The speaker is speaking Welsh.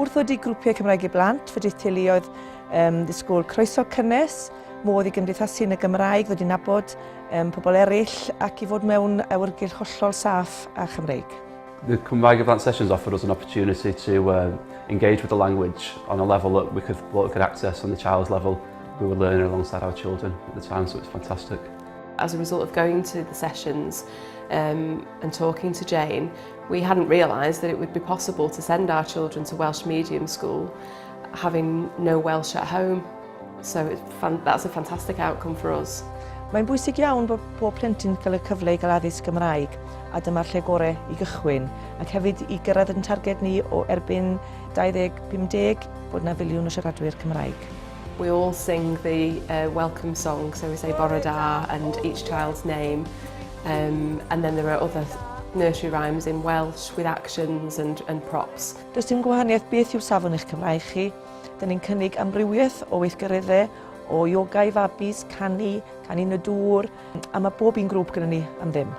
Wrth wedi grwpiau Cymraeg i blant, fe dydd teuluoedd um, ddisgwyl croeso cynnes, modd i gymdeithasu yn y Gymraeg, ddod i nabod um, pobl eraill ac i fod mewn awyrgylch hollol saff a Chymreig. The Cymraeg Event Sessions offered us an opportunity to um, engage with the language on a level that we could, what we could access on the child's level. We were learning alongside our children at the time, so it's fantastic. As a result of going to the sessions um, and talking to Jane, We hadn't realised that it would be possible to send our children to Welsh medium school having no Welsh at home. So it, that's a fantastic outcome for us. Mae'n bwysig iawn bod pob plentyn cael y cyfle i gael addysg Gymraeg a dyma'r lle gorau i gychwyn ac hefyd i gyrraedd yn targed ni o erbyn 2050 bod na filiwn o siaradwyr Cymraeg. We all sing the uh, welcome song, so we say Bore Da and each child's name. Um, and then there are other nursery rhymes in Welsh with actions and, and props. Does dim gwahaniaeth beth yw safon eich Cymraeg chi. Dyn ni'n cynnig amrywiaeth o weithgareddau, o yoga i fabis, canu, canu yn y dŵr, a mae bob un grŵp gyda ni am ddim.